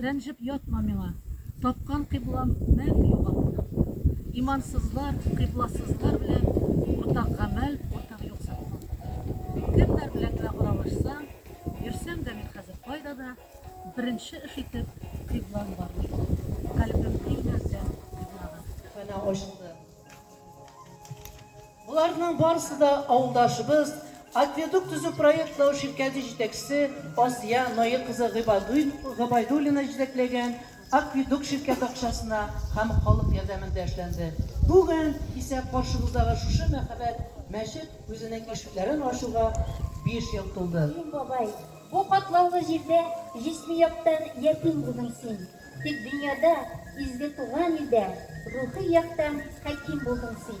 Рәнҗеп ятма миңа, тапкан кыйблам мәңге югалтма. Имансызлар, кыйбласызлар белән уртак гамәл, уртак юк сатма. Кемнәр белән генә аралашсаң, йөрсәң дә мин хәзер кайда да, беренче эш итеп кыйблам бар. Калбем һич нәрсә кыйблага. Хана ачты. Боларның барысы да авылдашыбыз, Акведук төзү проектлау ширкәте җитәкчесе Асия Нои кызы Гыйбайдуллина җитәкләгән Акведук ширкәте акчасына һәм халык ярдәмендә эшләнде. Бүген исә каршыбыздагы шушы мәһабәт мәчет үзенең ишекләрен ачуга биш ел тулды. Ратим бабай, бу катлаулы җирдә җисми яктан ятим булдың син. Тик дөньяда, изге туган илдә, Рухи яктан хәким булдың син.